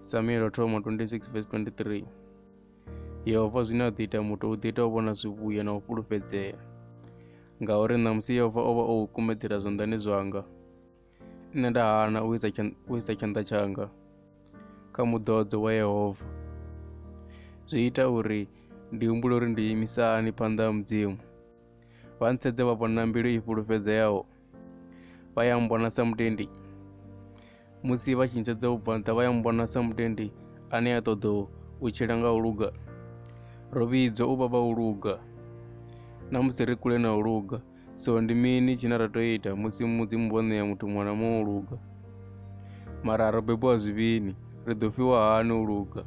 samuel thoma 26 vesi 23 yehova zwine a ḓo ita muthu u ḓo ita u vhona zwivhuya na u fhulufhedzea ngauri ṋamusi yehova o vha o u kumedzela zwanḓani zwanga Nṋe nda hana u isa u isa tshanḓa tshanga kha muḓodzo wa Yehova. Zwi ita uri ndi humbule uri ndi imisa hani phanḓa ha Mudzimu. Vha ntsedze vha vhona mbilu i fhulufhedzeaho. Vha ya mmbona sa mutendi. Musi vha tshi ntsedza u bva nṱha vha ya mmbona sa mutendi ane a ṱoḓa u tshila nga u luga. Ro vhidzwa u vha vha u luga na musi ri kule na u luga. so ndi mini tshine ra tea u ita musi mudzimu vho ṋea muthu muṅwe na muṅwe u luga mara ro bebiwa zwivhini ri ḓo fhiwa hani u luga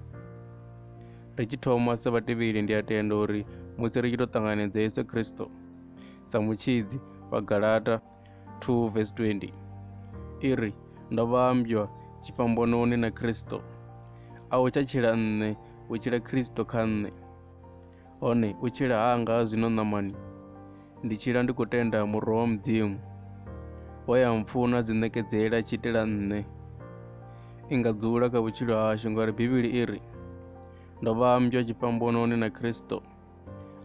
ri tshi thoma sa vhatevheli ndi a tenda uri musi ri tshi tou ṱanganedza yesu kristo sa mutshidzi wa galata 2 vs 20 i ri ndo vhambywa tshifhambononi na kristo a u tsha tshila nṋe u tshila kristo kha nṋe Hone u tshila hanga ha zwino ṋamani, ndi tshila ndi khou tenda muroho wa Mudzimu, we ya mpfuna dzi ṋekedzela tshi itela nṋe. I nga dzula kha vhutshilo hashu ngauri Bivhili i ri, Ndo vha mmbwa tshifhambononi na Kristo.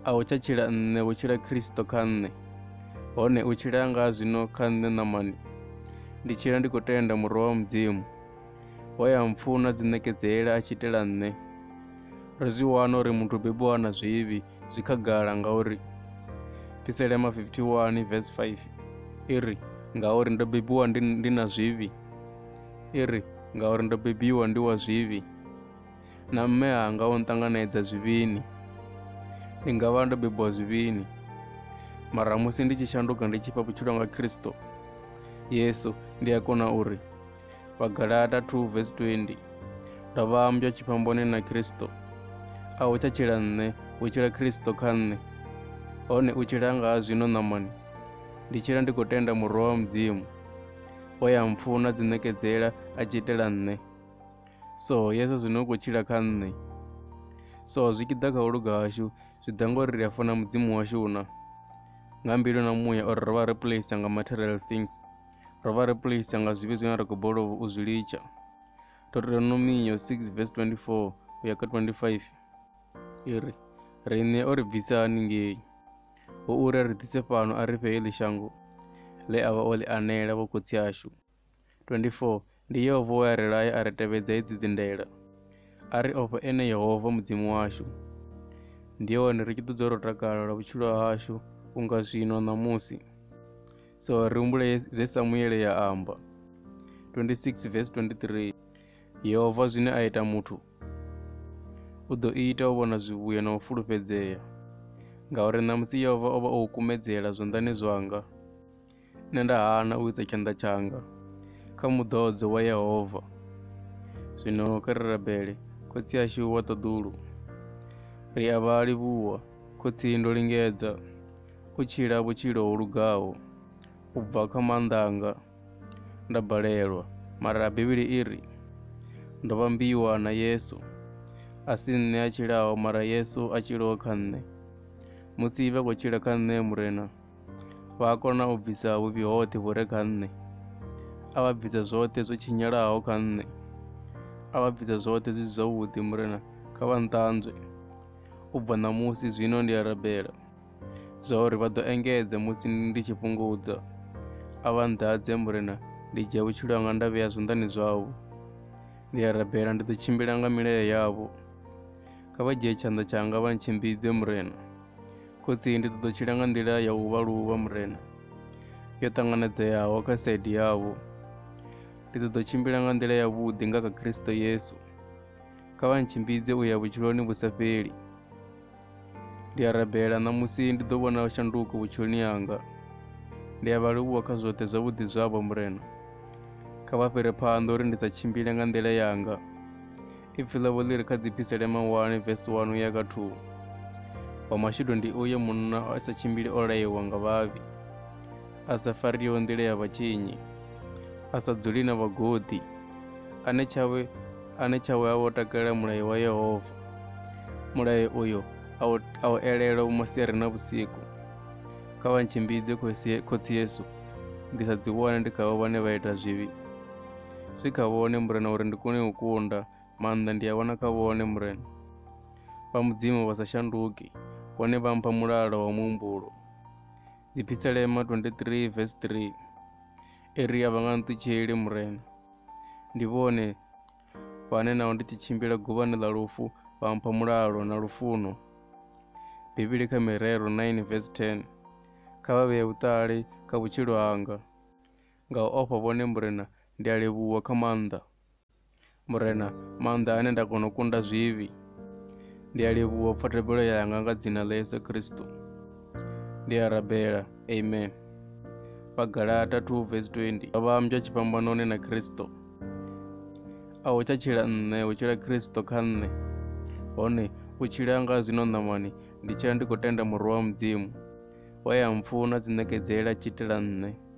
A hu tsha tshila nṋe, hu tshila Kristo kha nṋe. Hone u tshila hanga ha zwino kha nṋe ṋamani, ndi tshila ndi khou tenda muroho wa Mudzimu, we ya mpfuna dzi ṋekedzela a tshi itela nṋe. ri zwi wana uri muthu bebiwa na zwivhi zwi khagala ngauri piselema 51 vs 5 i ri ngauri ndo bebiwa ndi, ndi na zwivhi i ri ngauri ndo bebiwa ndi wa zwivhi na mme anga o nṱanganedza zwivhini ndi nga vha ndo bebiwa zwivhini mara musi ndi tshi shanduka ndi tshi fha vhutshilo nga khristo yesu ndi a kona uri pa galata 2 vesi 20 ndo vha mmbwa tshifhamboni na khristo a u tsha tshila nṋe u tshila khristo kha nṋe hone u tshila nga zwino ṋamani ndi tshila ndi khou tenda murwa wa mudzimu o ya mpfuna dzi ṋekedzela a tshi itela nṋe so yesu zwino u khou tshila kha nṋe so zwi tshi ḓa kha u luga hashu zwi ḓa ngori ri a funa mudzimu washu na nga mbilu na muya uri ro vha replace nga material things ro vha ri pulisa nga zwivhi zwine ra khou bolou u zwi litsha deuteronomio 6 vs 24 u ya kha 25 i ri riṋe o ri bvisa haningei ho uri ri ḓise fhano a ri fhe heḽi shango ḽe a vha o ḽi anela vhokhotsi ashu 24 Ndi Yehova we a ri laya a ri tevhedza hedzi dzindela, a ri ofha ene Yehova Mudzimu washu. Ndi hone ri tshi ḓo dzula ro takala lwa vhutshilo hashu unga zwino ṋamusi. So ri humbule zwe Samuele ya amba 26 verse 23 Yehova zwine a ita muthu u ḓo ita u vhona zwivhuya na u fulufhedzea ngauri ṋamusi Yehova o vha o u kumedzela zwanḓani zwanga. Nṋe nda hana u isa tshanḓa tshanga kha muḓodzo wa Yehova. Zwino kha ri rabele Khotsi ashu wa ṱaḓulu. Ri a vha livhuwa, Khotsi ndo lingedza u tshila vhutshilo ho lugaho u bva kha maanḓa anga nda balelwa, mara Bivhili i ri ndo vhambiwa na Yesu. A si nṋe a tshilaho mara Yesu a tshilaho kha nṋe. Musi vha khou tshila kha nṋe Murena, vha a kona u bvisa vhuvhi hoṱhe vhu re kha nṋe a vha bvisa zwoṱhe zwo tshinyalaho kha nṋe a vha bvisa zwoṱhe zwi si zwavhuḓi murena kha vha nṱanzwe u bva ṋamusi zwino ndi a rabela zwa uri vha ḓo engedze musi ndi tshi fhungudza a vha nḓadze murena ndi dzhia vhutshilo hanga nda vhea zwanḓani zwavho ndi a rabela ndi ḓo tshimbila nga milayo yavho kha vha dzhie tshanḓa tshanga vha ntshimbidze murena khotsi ndi ṱoḓa tshila nga nḓila ya u vha luvha murena yo ṱanganedzeaho kha saidi yavho ndi ṱoḓa tshimbila nga nḓila ya vhuḓi nga kha kristo yesu kha vha ntshimbidze u ya vhutshiloni vhu sa fheli ndi a rabela ṋamusi ndi ḓo vhona shanduko vhutshiloni yanga ndi a vha livhuwa kha zwoṱhe zwavhuḓi zwavho murena kha vha fhire phanḓa uri ndi sa tshimbile nga nḓila yanga Ipfi ḽavho ḽi ri kha dzipisele mahulwane vesi 1 uya kha 2 wa mashudu ndi uyo munna a sa tshimbili o layewa nga vhavhi a sa fariho nḓila ya vhatshinyi a sa dzuli na vhagodi ane tshawe ane tshawe a wo takalela mulayo wa yehova mulayo uyo a u elela vhumasiari na vhusiku kha vha ntshimbidze khotsi yesu ndi sa dzi wane ndi khavho vhane vha ita zwivhi zwi kha vhone murena uri ndi kone u kunda maanḓa ndi a wana kha vhone murena vha mudzimu vha sa shanduki vhone vha mpha mulalo wa muhumbulo dziphiselema 23 vs 3 eri a vha nga nṱutsheli murena ndi vhone vhane naho ndi tshi tshimbila guvhani ḽa lufu vha mpha mulalo na lufuno bivhili kha mirero 9 vs 10 kha vha vhee vhuṱali kha vhutshilo hanga Nga u ofha vhone Murena ndi a livhuwa kha maanḓa. Murena, maanḓa ane nda kona u kunda zwivhi. Ndi a livhuwa pfa thabelo yanga nga dzina ḽa Yesu Kristo. Ndi a rabela. Amen. Vhagalata 2 vesi 20 Vha vha mdzwa tshifhambanoni na Kristo. A hu tsha tshila nṋe, hu tshila Kristo kha nṋe. Hone u tshila nga zwino ṋamani, ndi tshila ndi khou tenda Murwa wa Mudzimu, we a mpfuna tsiṋekedzela tshitela nṋe.